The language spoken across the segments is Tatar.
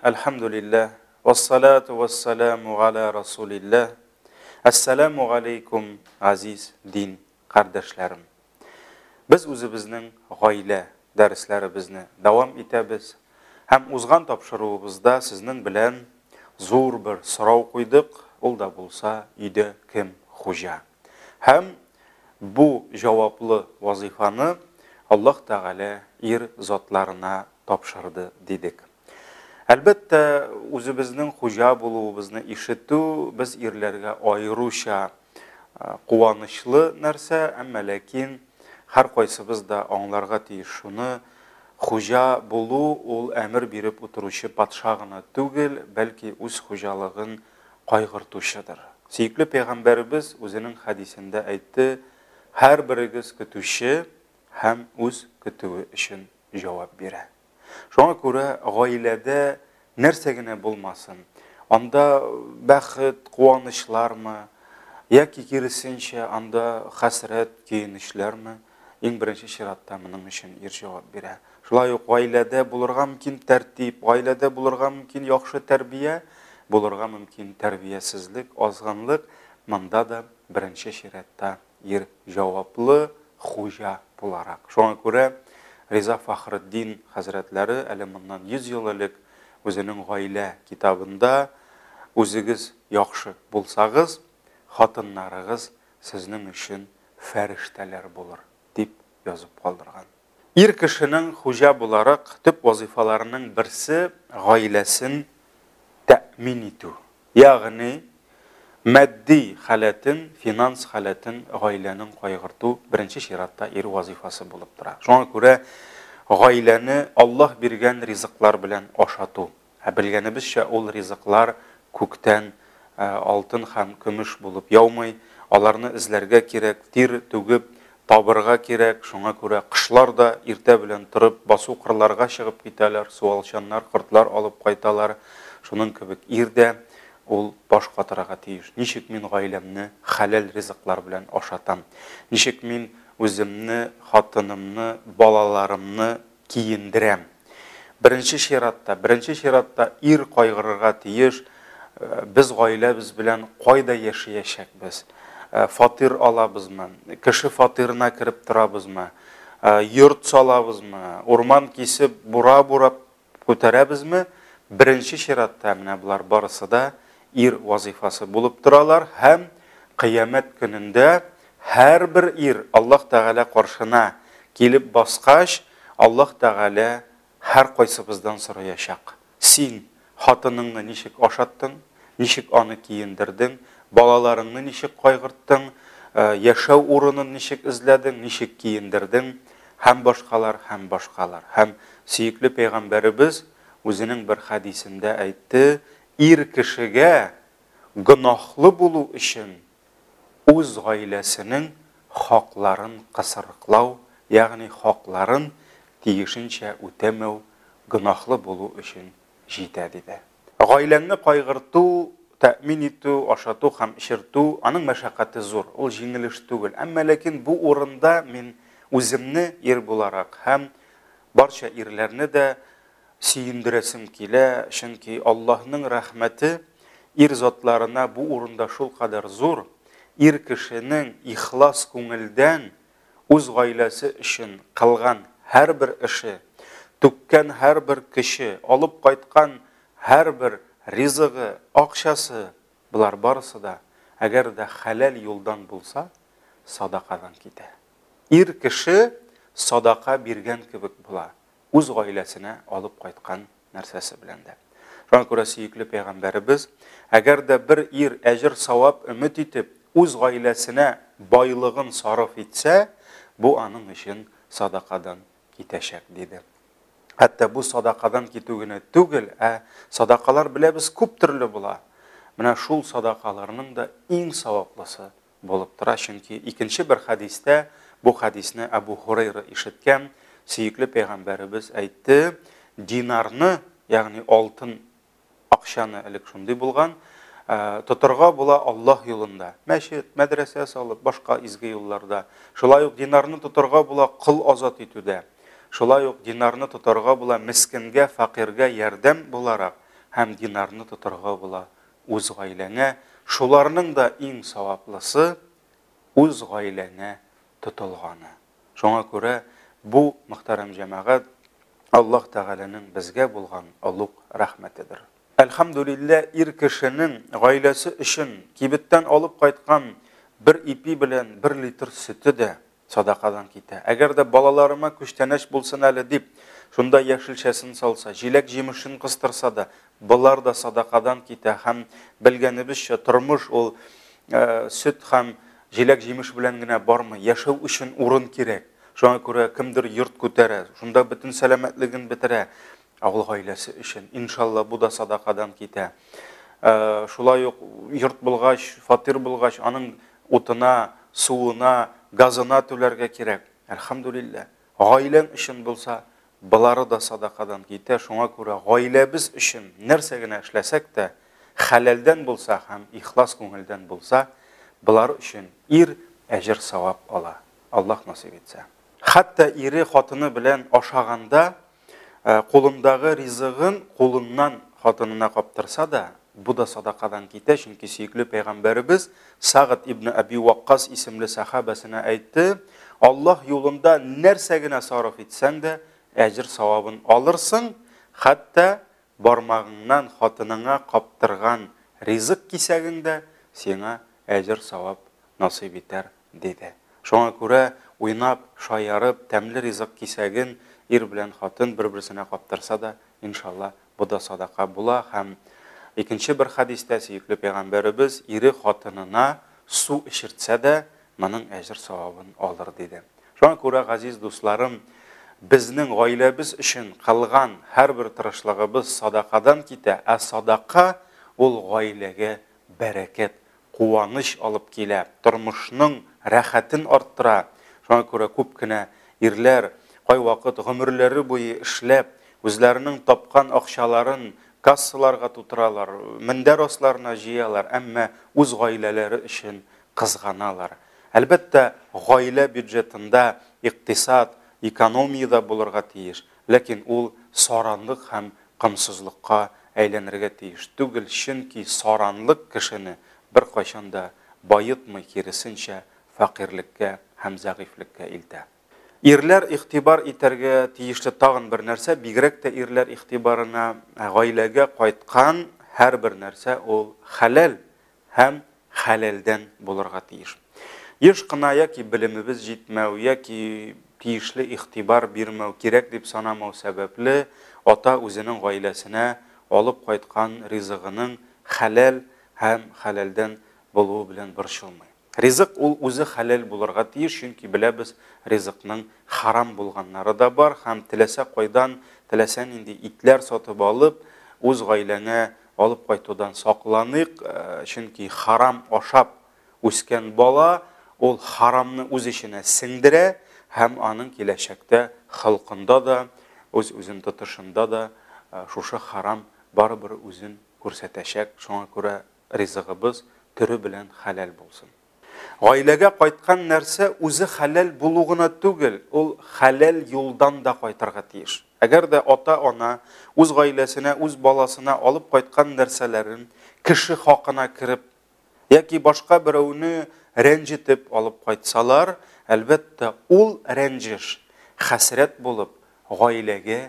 Әлхәмдүлилләһ, вәссалату вәссәламу галә Расулилләһ, Әссәламу галәйкүм, газиз дин кардәшләрем! Без үзебезнең Гаилә дәресләребезне дәвам итәбез һәм узган тапшыруыбызда сезнең белән зур бер сорау куйдык, ул да булса, өйдә кем хуҗа? Һәм бу җаваплы вазыйфаны Аллаһ Тәгалә ир затларына тапшырды дидек. Әлбәттә, үзебезнең хуҗа булуыбызны ишетү без ирләргә аеруча куанычлы нәрсә, әмма ләкин һәркайсыбыз да аңларга тиеш шуны, хуҗа булу ул әмер биреп утыручы патша гына түгел, бәлки үз хуҗалыгын кайгыртучыдыр. Сөекле пәйгамбәребез үзенең хәдисендә әйтте, Һәрберегез көтүче һәм үз көтүе өчен җавап бирә. Шуңа күрә гаиләдә нәрсә генә булмасын, анда бәхет, куанычлармы, яки киресенчә, анда хәсрәт, көенечләрме, иң беренче чиратта моның өчен ир җавап бирә. Шулай ук гаиләдә булырга мөмкин тәртип, гаиләдә булырга мөмкин яхшы тәрбия, булырга мөмкин тәрбиясезлек, азгынлык, монда да беренче чиратта ир җаваплы хуҗа буларак. Шуңа күрә Риза Фахретдин хәзрәтләре әле моннан 100 ел элек үзенең Гаилә китабында Үзегез яхшы булсагыз, хатыннарыгыз сезнең өчен фәрештәләр булыр, дип язып калдырган. Ир кешенең хуҗа буларак төп вазыйфаларының берсе, гаиләсен тәэмин итү. Ягъни, матди халәтен, финанс халәтен гаиләнең кайгырту беренче чиратта ир вазыйфасы булып тора. Шуңа күрә гаиләне Аллаһ биргән ризыклар белән ашату, Ә белгәнебезчә, ул ризыклар күктән алтын һәм көмеш булып яумый, аларны эзләргә кирәк, тир түгеп табырга кирәк, шуңа күрә кошлар да иртә белән торып, басу-кырларга чыгып китәләр, суалчаннар, кортлар алып кайталар, шуның кебек ир дә, ул баш катырага тиеш, ничек мин гаиләмне хәләл ризыклар белән ашатам, ничек мин үземне, хатынымны, балаларымны киендерәм. Беренче чиратта, беренче чиратта ир кайгырырга тиеш, без гаиләбез белән кайда яшәячәкбез, фатир алабызмы, кеше фатирына кереп торабызмы, йорт салабызмы, урман кисеп, бура бурап күтәрәбезме, беренче чиратта менә болар барысы да ир вазыйфасы булып торалар һәм кыямәт көнендә Һәрбер ир Аллаһ Тәгалә каршына килеп баскач, Аллаһ Тәгалә һәркайсыбыздан сораячак, Син хатыныңны ничек ашаттың, ничек аны киендердең, балаларыңны ничек кайгырттың, яшәү урынын ничек эзләдең, ничек киендердең, һәм башкалар, һәм башкалар. Һәм сөекле пәйгамбәребез үзенең бер хәдисендә әйтте, Ир кешегә гөнаһлы булу өчен үз гаиләсенең хакларын кысрыклау, ягъни хакларын тиешенчә үтәмәү гөнаһлы булу өчен җитә, диде. Гаиләңне кайгырту, тәэмин итү, ашату һәм эчертү, аның мәшәкате зур, ул җиңел эш түгел. Әмма ләкин бу урында мин үземне ир буларак һәм барча ирләрне дә Сөендерәсем килә, чөнки Аллаһның рәхмәте ир затларына бу урында шулкадәр зур, ир кешенең ихлас күңелдән үз гаиләсе өчен кылган һәрбер эше, түккән һәрбер көче, алып кайткан һәрбер ризыгы, акчасы, болар барысы да, әгәр дә хәләл юлдан булса, садакадан китә. Ир кеше садака биргән кебек була, үз гаиләсенә алып кайткан нәрсәсе белән дә. Шуңа күрә сөекле пәйгамбәребез, әгәр дә бер ир әҗер савап өмет итеп, үз гаиләсенә байлыгын сарыф итсә, бу аның өчен садакадан китәчәк, диде. Хәтта бу садакадан китү генә түгел, ә садакалар беләбез күп төрле була. Менә шул садакаларның да иң саваплысы булып тора, чөнки икенче бер хәдистә, бу хәдисне Әбу Һурайра ишеткән, сөекле пәйгамбәребез әйтте, динарны, ягъни алтын акчаны элек шундый булган, Э, тотырга була Аллаһ юлында. Мәчет, мәдрәсә салып, башка изге юлларда. Шулай ук динарны тотырга була кыл азат итүдә. Шулай ук динарны тотырга була мискенгә, факиргә ярдәм буларак һәм динарны тотырга була үз гаиләңә, шуларның да иң саваплысы үз гаиләңә тотылганы. Шуңа күрә бу, мөхтәрәм җәмәгать, Аллаһ Тәгаләнең безгә булган олуг рәхмәтедер. Әлхәмдүлиллә, ир кешенең гаиләсе өчен кибеттән алып кайткан бер ипи белән бер литр сөте дә, Садакадан китә. Әгәр дә балаларыма күчтәнәч булсын әле дип, шунда яшелчәсен салса, җиләк-җимешен кыстырса да, болар да садакадан китә һәм, белгәнебезчә, тормыш ул сөт һәм җиләк-җимеш белән генә бармый, яшәү өчен урын кирәк. Шуңа күрә кемдер йорт күтәрә, шунда бөтен сәламәтлеген бетерә авыл гаиләсе өчен. Иншалла, бу да садакадан китә. Шулай ук йорт булгач, фатир булгач, аның Утына, суына, газына түләргә кирәк. Әлхәмдүлилләһ. Гаиләң өчен булса, болары да садакадан китә. Шуңа күрә гаиләбез өчен нәрсә генә эшләсәк тә, хәләлдән булса һәм ихлас күңелдән булса, болар өчен ир әҗер-савап ала, Аллаһ насыйп итсә. Хәтта ире, хатыны белән ашаганда, Ә кулындагы ризыгын кулыннан хатынына каптырса да, бу да садакадан китә, чөнки сөекле пәйгамбәребез Сагд ибн Әби Ваккас исемле сәхабәсенә әйтте, Аллаһ юлында нәрсә генә сарыф итсәң дә, әҗер-савабын алырсың, хәтта бармагыңнан хатыныңа каптырган ризык кисәгең дә сиңа әҗер-савап насыйп итәр диде. Шуңа күрә, уйнап, шаярып, тәмле ризык кисәген ир белән хатын бер-берсенә каптырса да, иншалла, бу да садака була һәм икенче бер хәдистә сөекле пәйгамбәребез, ире хатынына су эчертсә дә, моның әҗер-савабын алыр, диде. Шуңа күрә, газиз дусларым, безнең гаиләбез өчен кылган һәрбер тырышлыгыбыз садакадан китә, ә садака, ул гаиләгә бәрәкәт куаныч алып килә, тормышның рәхәтен арттыра. Шуңа күрә күп кенә ирләр кайвакыт гомерләре буе эшләп, үзләренең тапкан акчаларын кассаларга тутыралар, мендәр асларына җыялар, әмма үз гаиләләре өчен кызганалар. Әлбәттә, гаилә бюджетында икътисад, экономия дә булырга тиеш. Ләкин ул саранлык һәм комсызлыкка әйләнергә тиеш түгел, чөнки саранлык кешене беркайчан да баетмый, киресенчә, фәкыйрьлеккә һәм зәгыйфьлеккә илтә. Ирләр игътибар итәргә тиешле тагын бер нәрсә, бигрәк тә ирләр игътибарына гаиләгә кайткан һәрбер нәрсә ул хәләл һәм хәләлдән булырга тиеш. Еш кына яки белемебез җитмәү, яки тиешле игътибар бирмәү, кирәк дип санамау сәбәпле, ата үзенең гаиләсенә алып кайткан ризыгының хәләл һәм хәләлдән булуы белән борчылмый. Ризык ул үзе хәләл булырга тиеш, чөнки беләбез, ризыкның харам булганнары да бар һәм теләсә кайдан, теләсә нинди итләр сатып алып, үз гаиләңә алып кайтудан сакланыйк, чөнки харам ашап үскән бала ул харамны үз эченә сеңдерә һәм аның киләчәктә холкында да, үз-үзен тотышында да шушы харам барыбер үзен күрсәтәчәк, шуңа күрә ризыгыбыз төре белән хәләл булсын. Гаиләгә кайткан нәрсә үзе хәләл булу гына түгел, ул хәләл юлдан да кайтырга тиеш. Әгәр дә ата-ана үз гаиләсенә, үз баласына алып кайткан нәрсәләрен кеше хакына кереп яки башка берәүне рәнҗетеп алып кайтсалар, әлбәттә, ул рәнҗеш, хәсрәт булып, гаиләгә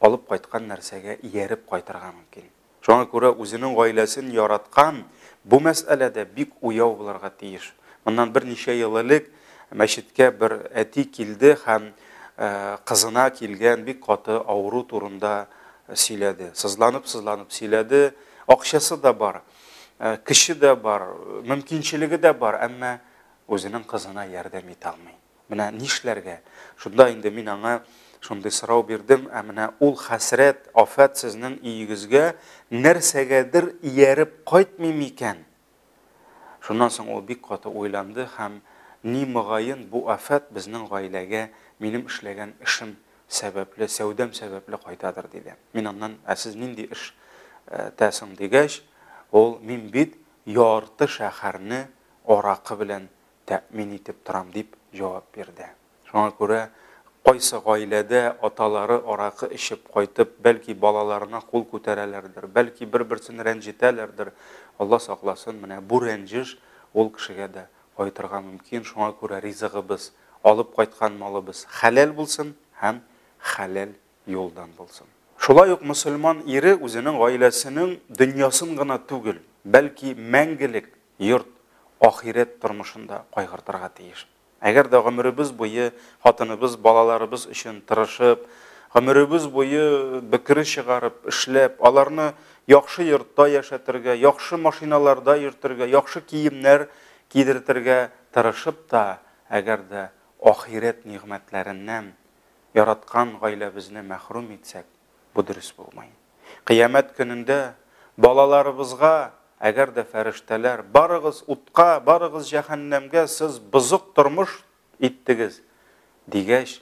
алып кайткан нәрсәгә ияреп кайтырга мөмкин. Шуңа күрә үзенең гаиләсен яраткан, бу мәсьәләдә бик уяу булырга тиеш. Моннан берничә ел элек мәчеткә бер әти килде һәм кызына килгән бик каты авыру турында сөйләде. Сызланып-сызланып сөйләде. Акчасы да бар, көче дә бар, мөмкинчелеге дә бар, әмма үзенең кызына ярдәм итә алмый. Менә нишләргә? Шунда инде мин аңа шундый сорау бирдем, Ә менә ул хәсрәт, афәт сезнең өегезгә нәрсәгәдер ияреп кайтмый микән? Шуннан соң ул бик каты уйланды һәм, Ни, мөгаен, бу афәт безнең гаиләгә минем эшләгән эшем сәбәпле, сәүдәм сәбәпле кайтадыр, диде. Мин аннан, Ә сез нинди эш тә соң? дигәч, ул, Мин бит ярты шәһәрне аракы белән тәэмин итеп торам, дип җавап бирде. Шуңа күрә кайсы гаиләдә аталары аракы эчеп кайтып, бәлки балаларына кул күтәрәләрдер, бәлки бер-берсен рәнҗетәләрдер, Алла сакласын, менә бу рәнҗеш ул кешегә дә кайтырга мөмкин, шуңа күрә ризыгыбыз, алып кайткан малыбыз хәләл булсын һәм хәләл юлдан булсын. Шулай ук мөселман ире үзенең гаиләсенең дөньясын гына түгел, бәлки мәңгелек йорт, ахирәт тормышын да кайгыртырга тиеш. Әгәр дә гомеребез буе хатыныбыз, балаларыбыз өчен тырышып, гомеребез буе бөкре чыгарып, эшләп, аларны яхшы йортта яшәтергә, яхшы машиналарда йөртергә, яхшы киемнәр кидертергә тырышып та, әгәр дә ахирәт нигъмәтләреннән яраткан гаиләбезне мәхрүм итсәк, Бу дөрес булмый. Кыямәт көнендә балаларыбызга, әгәр дә фәрештәләр, барыгыз утка, барыгыз җәһәннәмгә, сез бозык тормыш иттегез, дигәч,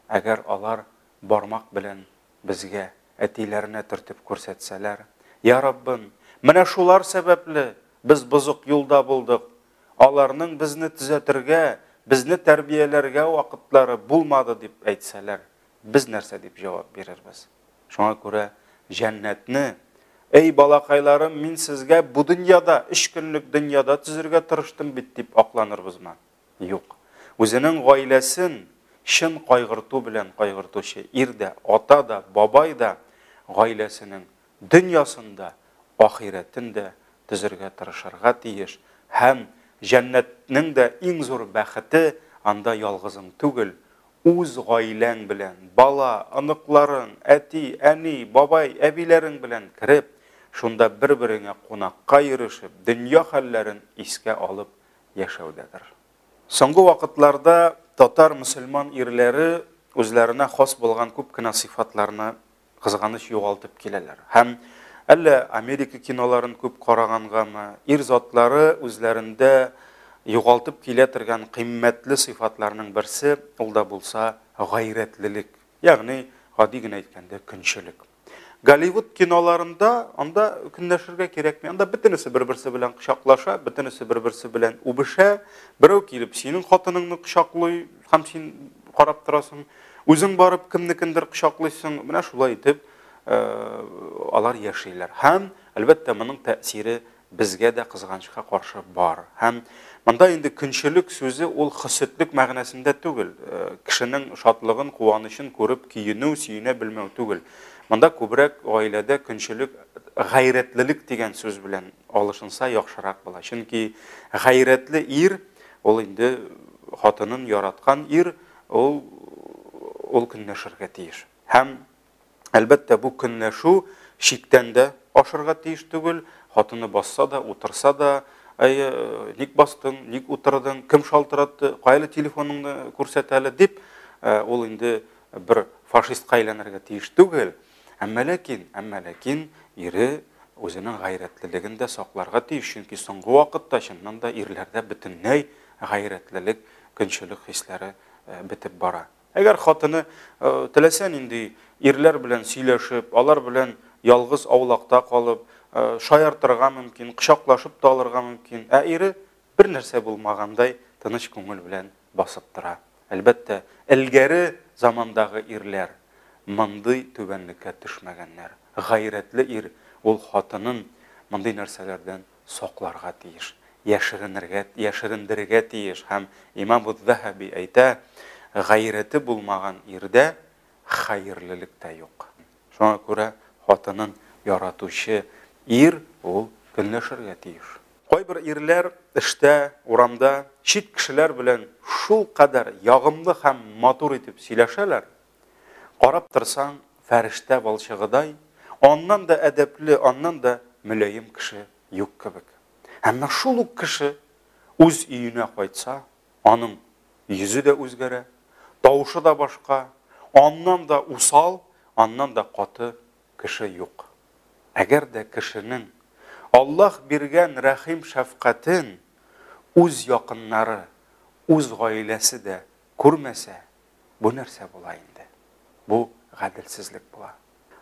әгәр алар бармак белән безгә, әтиләренә төртеп күрсәтсәләр, Я Раббым, менә шулар сәбәпле без бозык юлда булдык, аларның безне төзәтергә, безне тәрбияләргә вакытлары булмады, дип әйтсәләр, без нәрсә дип җавап бирербез? Шуңа күрә җәннәтне, Әй балакайларым, мин сезгә бу дөньяда, өч көнлек дөньяда төзергә тырыштым бит, дип акланырбызмы? Юк. Үзенең гаиләсен чын кайгырту белән кайгыртучы ир дә, ата да, бабай да гаиләсенең дөньясында ахирәтен дә төзергә тырышырга тиеш һәм җәннәтнең дә иң зур бәхете анда ялгызың түгел, Үз гаиләң белән, бала, оныкларың, әти, әни, бабай, әбиләрең белән кереп, шунда бер-береңә кунакка йөрешеп, дөнья хәлләрен искә алып яшәүдәдер. Соңгы вакытларда татар мөселман ирләре үзләренә хас булган күп кенә сыйфатларны кызганыч, югалтып киләләр. Һәм, әллә Америка киноларын күп карагангамы, ир затлары үзләрендә югалтып килә тергән кыйммәтле сыйфатларның берсе, ул да булса гайрәтлелек, ягъни, гади генә әйткәндә, көнчелек. Голливуд киноларында анда көнләшергә кирәкми, анда бөтенесе бер-берсе белән кочаклаша, бөтенесе бер-берсе белән үбешә, берәү килеп синең хатыныңны кочаклый, һәм син карап торасың. Үзең барып кемнекендер кочаклыйсың. Менә шулай итеп алар яшиләр. Һәм, әлбәттә, моның тәэсире безгә дә кызганычка каршы бар. Һәм монда инде көнчелек сүзе ул хөсетлек мәгънәсендә түгел. Кешенең шатлыгын, куанычын күреп көенү, сөенә белмәү түгел. Монда күбрәк гаиләдә көнчелек гайрәтлелек дигән сүз белән алышынса яхшырак була. Чөнки гайрәтле ир Ул инде хатынын яраткан ир, ул ул көнләшергә тиеш. Һәм әлбәттә бу көнләшү чиктән дә ашырга тиеш түгел, хатыны басса да, утырса да, әйе, ник бастың, ник утырдың, кем шалтыратты, кайлы телефоныңны күрсәт әле дип, ул инде бер фашистка әйләнергә тиеш түгел. Әмма ләкин, әмма ләкин ире үзенең гайрәтлелеген дә сакларга тиеш, чөнки соңгы вакытта чыннан да ирләрдә бөтенләй гайрәтлелек, көнчелек хисләре э, бетеп бара. Әгәр хатыны э, теләсә нинди ирләр белән сөйләшеп, алар белән ялгыз аулакта калып, э, шаяртырга мөмкин, кочаклашып та алырга мөмкин, ә ире бер нәрсә булмагандай тыныч күңел белән басып тора. Әлбәттә, элгәре замандагы ирләр мондый түбәнлеккә төшмәгәннәр. Гайрәтле ир ул хатынын мондый нәрсәләрдән сакларга тиеш, яшеренергә, яшерендерергә тиеш. Һәм имам Уз-Заһаби әйтә, Гайрәте булмаган ирдә хәерлелек тә юк. Шуңа күрә хатынын яратучы ир ул көнләшергә тиеш. Кайбер ирләр эштә, урамда чит кешеләр белән шулкадәр ягымлы һәм матур итеп сөйләшәләр, карап торсаң, фәрештә балчыгыдай, аннан да әдәпле, аннан да мөлаем кеше юк кебек. Әмма шул ук кеше үз өенә кайтса, Аның йөзе дә үзгәрә, тавышы да башка, аннан да усал, аннан да каты кеше юк. Әгәр дә кешенең Аллаһ биргән рәхим-шәфкатен үз якыннары, үз гаиләсе дә күрмәсә, бу нәрсә була инде? Бу гаделсезлек була.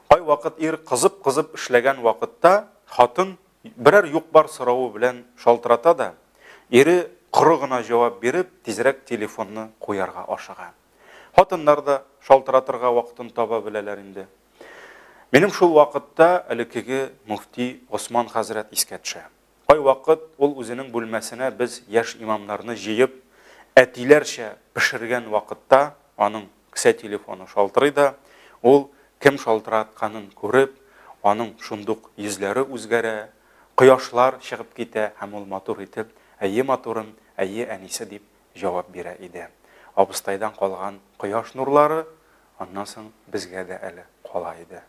Кайвакыт ир кызып-кызып эшләгән вакытта, хатын берәр юк-бар соравы белән шалтырата да, ире коры гына җавап биреп, тизрәк телефонны куярга ашыга. Хатыннар да шалтыратырга вакытын таба беләләр инде. Минем шул вакытта элеккеге мөфти Госман хәзрәт искә төшә. Кайвакыт ул үзенең бүлмәсенә без яшь имамнарны җыеп, әтиләрчә пешергән вакытта аның Кесә телефоны шалтырый да, ул, кем шалтыратканын күреп, аның шундук йөзләре үзгәрә, кояшлар чыгып китә һәм ул матур итеп, Әйе, матурым, әйе, әнисе, дип җавап бирә иде. Абыстайдан калган кояш нурлары аннан соң безгә дә әле кала иде.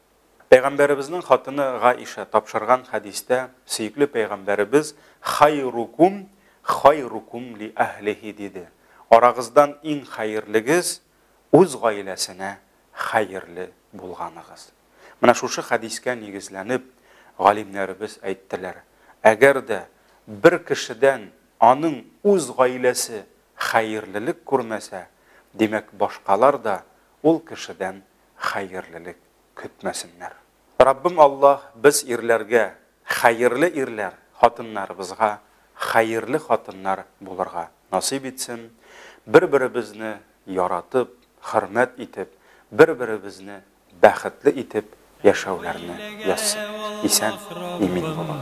Пәйгамбәребезнең хатыны Гаиша тапшырган хәдистә сөекле пәйгамбәребез Хайрукум хайрукум ли әһлихи диде, Арагыздан иң хәерлегез үз гаиләсенә хәерле булганыгыз. Менә шушы хәдискә нигезләнеп, галимнәребез әйттеләр, әгәр дә бер кешедән аның үз гаиләсе хәерлелек күрмәсә, димәк, башкалар да ул кешедән хәерлелек көтмәсеннәр. Раббым Аллаһ без ирләргә хәерле ирләр, хатыннарыбызга хәерле хатыннар булырга насыйп итсен, бер-беребезне яратып, хөрмәт итеп, бер-беребезне бәхетле итеп яшәүләрне язсын. Исән, имин булыгыз.